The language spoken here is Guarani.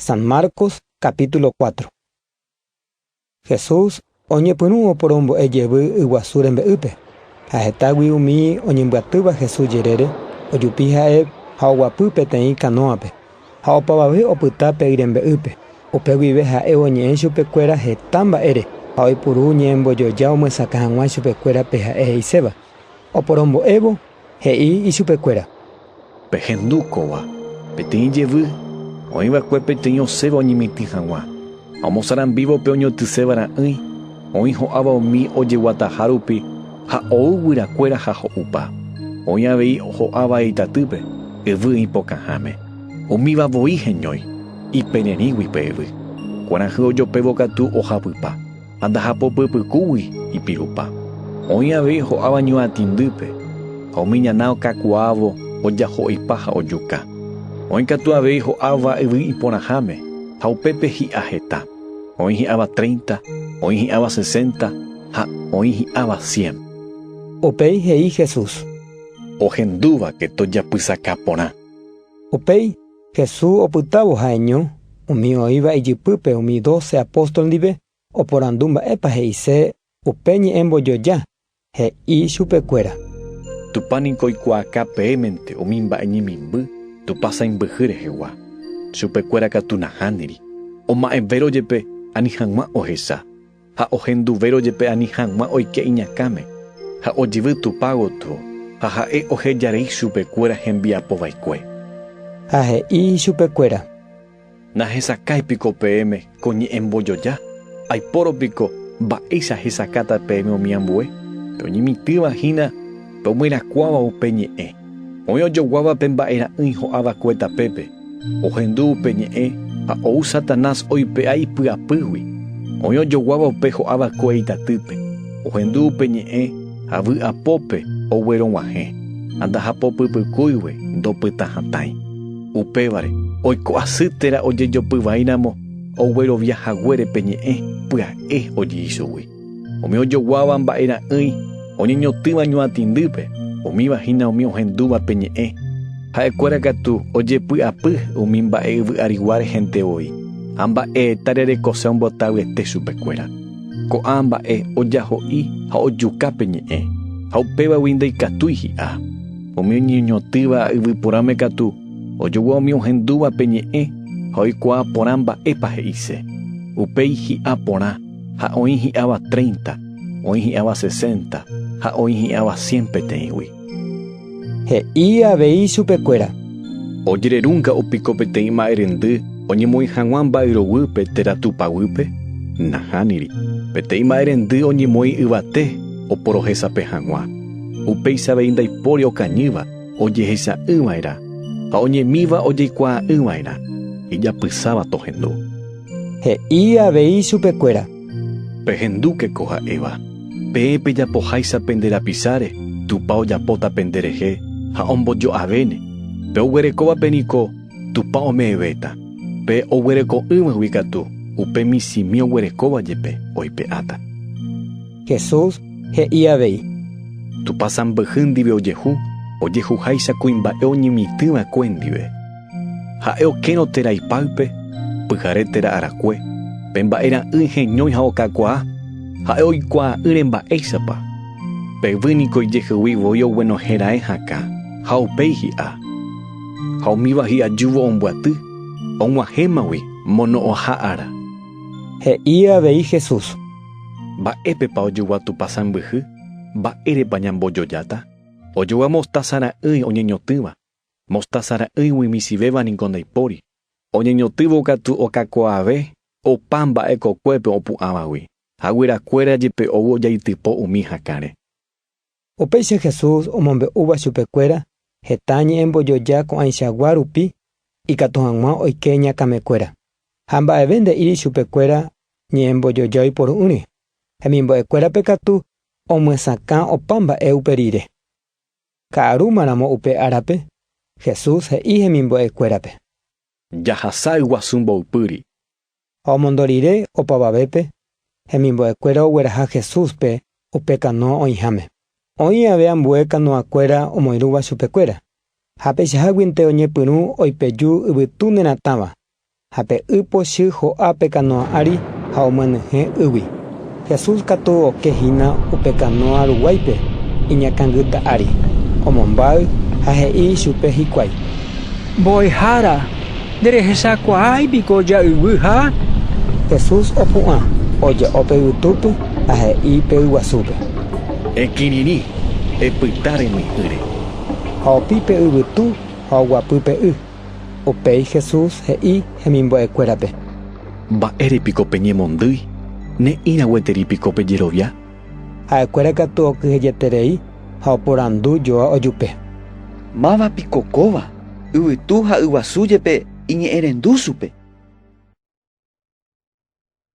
San Marcos capítulo cuatro. Jesús oñepyrũ oporombo'e jevy yguasu rembe'ýpe, ha hetágui umi oñembyatýva Jesús jerére, ojupi ha'e ha oguapy peteĩ kanóape, ha opavave opyta pe yrembe'ýpe. Upe guive ha'e oñe'ẽ chupekuéra heta mba'ére ha oipuru ñe'ẽmbojoja omyesakã hag̃ua chupekuérape ha'e he'iséva. Oporombo'évo, He'i ichupekuéra. Pehendu kóva, peteĩ jevy, oĩ va'ekue peteĩ osẽva oñemitỹ hag̃ua, ha omosarambívo pe oñotyséva ra'ỹi, oĩ ho'áva umi ojeguataha rupi ha ou guyrakuéra ha ho'upa, oĩ avei ho'áva itatýpe, yvy ipokãháme. Umíva voi heñói, ipererĩgui pe yvy. Kuarahy ojopévo katu ohapypa. Ha ndahapopypykúgui ipirupa. Oĩ avei ho'áva ñuatĩndýpe, ha umi ñana okakuaávo ojaho'ipa ha ojuka. Oĩ katu avei ho'áva yvy iporãháme, ha upépe hi'a heta. Oĩ hi'áva tréinta, oĩ hi'áva sesénta ha oĩ hi'áva sién. Upéi he'i Jesús. Ohendúvake tojapysaka porã. Upéi Jesús opytávo ha'eño umi oĩva ijypýpe umi doce apóstol ndive, oporandu mba'épa he'ise upe ñe'ẽ mbojoja, he'i chupekuéra. Tupã niko oikuaaka peẽmente umi mba'e ñemimby Tupã sãimbyhy rehegua. Chupekuéra katu nahániri, oma'ẽvérõ jepe ani hag̃ua ohecha. ha ohenduvérõ jepe ani hag̃ua oike iñakãme, ha ojevy Tupã gotyo, ha ha'e oheja rei chupe kuéra hembiapo vaikue. Ha he'i chupe kuéra. Nahesakái piko peẽme ko ñe'ẽ mbojoja? Aipórõ piko mba'éicha hesakáta peẽme umi ambue? Pe oñemitỹva hína pe omyerakuãva upe ñe'ẽ. Oĩ ojoguáva pe mba'e ra'ỹi ho'a va'ekue tapépe, ohendu upe ñe'ẽ ha ou Satanás oipe'a ipy'apýgui. Oĩ ojoguáva upe ho'a va'ekue itatýpe, ohendu upe ñe'ẽ ha vy'apópe oguerog̃uahẽ ha ndahapopypykúigue, ndopyta hatãi. Upévare, oiko asy térã ojejopy vai ramo oguerovia haguére pe ñe'ẽ pya'e oji'i chugui. Umi ojoguáva mba'e ra'ỹi oñeñotỹva ñuatĩndýpe, umíva hína umi ohendúva pe ñe'ẽ. Ha'ekuéra katu ojepy'apy umi mba'e yvy arigua rehente voi, ha mba'eeta rerekose ombotavyete chupekuéra. Ko'ã mba'e ojaho'i ha ojuka pe ñe'ẽ, ha upévagui ndaikatúi hi'a. Umi oñeñotỹva yvy porãme katu ojogua umi ohendúva pe ñe'ẽ ha oikuaa porã mba'épa he'ise. Upéi hi'a porã. ha oĩ hi'áva treinta, oĩ hi'áva sesenta ha oĩ hi'áva cien peteĩgui. He'i avei chupekuéra. Ojererúnga'u piko peteĩ ma'erendy oñemoĩ hag̃ua mba'yroguýpe térã tupaguýpe? Nahániri. Peteĩ ma'erendy oñemoĩ yvate oporohesape hag̃ua. Upéicha avei ndaipóri okañýva ojehecha'ỹva'erã ha oñemíva ojeikuaa'ỹva'erã, ijapysáva tohendu. He'i avei chupekuéra. Pehendúke ko ha'éva. Peẽ pejapoháicha pende rapisáre, Tupã ojapóta pende rehe ha ombojo'avéne. Pe oguerekóvape niko Tupã ome'ẽvéta. Pe oguereko'ỹvagui katu, upe michĩmi oguerekóva jepe, oipe'áta. Jesús he'i avei. Tupã sãmbyhy ndive ojehu, ojehuháicha kuimba'e oñemitỹva'ekue ndive. Ha'e okérõ térã ipáype, pyhare térã arakue, pe mba'e ra'ỹi heñói ha okakuaa, ha'e oikuaa'ỹre mba'éichapa. Pe yvy niko ijehegui voi oguenohẽ raẽ hakã, ha upéi hi'a. Ha umíva hi'ajúvo ombyaty, og̃uahẽmagui mono'õha ára. He'i avei Jesús. Mba'épepa ojogua Tupã sãmbyhy? Mba'érepa ñambojojáta? Ojogua mostása ra'ỹi oñeñotỹva, Mostása ra'ỹigui michĩvéva niko ndaipóri. Oñeñotỹvo katu okakuaave opa mba'e kokuépe opu'ãvagui, ha guyrakuéra jepe ou ojaitypo umi hakãre. Upéicha Jesús omombe'úva chupekuéra heta ñe'ẽ mbojoja ko'ãichagua rupi ikatu hag̃ua oike ñakãmekuéra. Ha mba'eve nde'íri chupekuéra ñe'ẽ mbojoja oiporo'ỹre, hemimbo'ekuérape katu omyesakã opa mba'e upe rire. Ka'arúma ramo upe árape, Jesús he'i hemimbo'e kuérape. Jahasa yguasu mboypýri. Ha omondo rire opavavépe, hemimbo'e kuéra ogueraha Jesúspe upe kanoa oĩháme. Oĩ ave ambue kanoa kuéra omoirũva chupe kuéra. Ha peichaháguinte oñepyrũ oipeju yvytu neratãva, Ha pe y pochy ho'a pe kanóa ári ha omyenyhẽ ýgui. Jesús katu oke hína upe kanóa ruguáipe iñakãngyta ári, omombáy ha he'i chupe hikuái. Mbo'ehára, nderehechakuaái piko ja'yguy ha. Jesús opu'ã, oje'o pe yvýtúpe ha he'i pe yguasúpe. Ekirirĩ, epyta remy'ỹre. Ha opi pe yvytu ha oguapy pe y. Upéi Jesús he'i hemimbo'ekuérape: “Mba'ére piko peñemondýi? Ne'ĩra gueteri piko pejerovia?” Ha'ekuéra katu okyhyjeterei ha oporandu joa ojupe. “Máva piko kóva, yvytu ha yguasu jepe iñe'ẽrendu chupe?”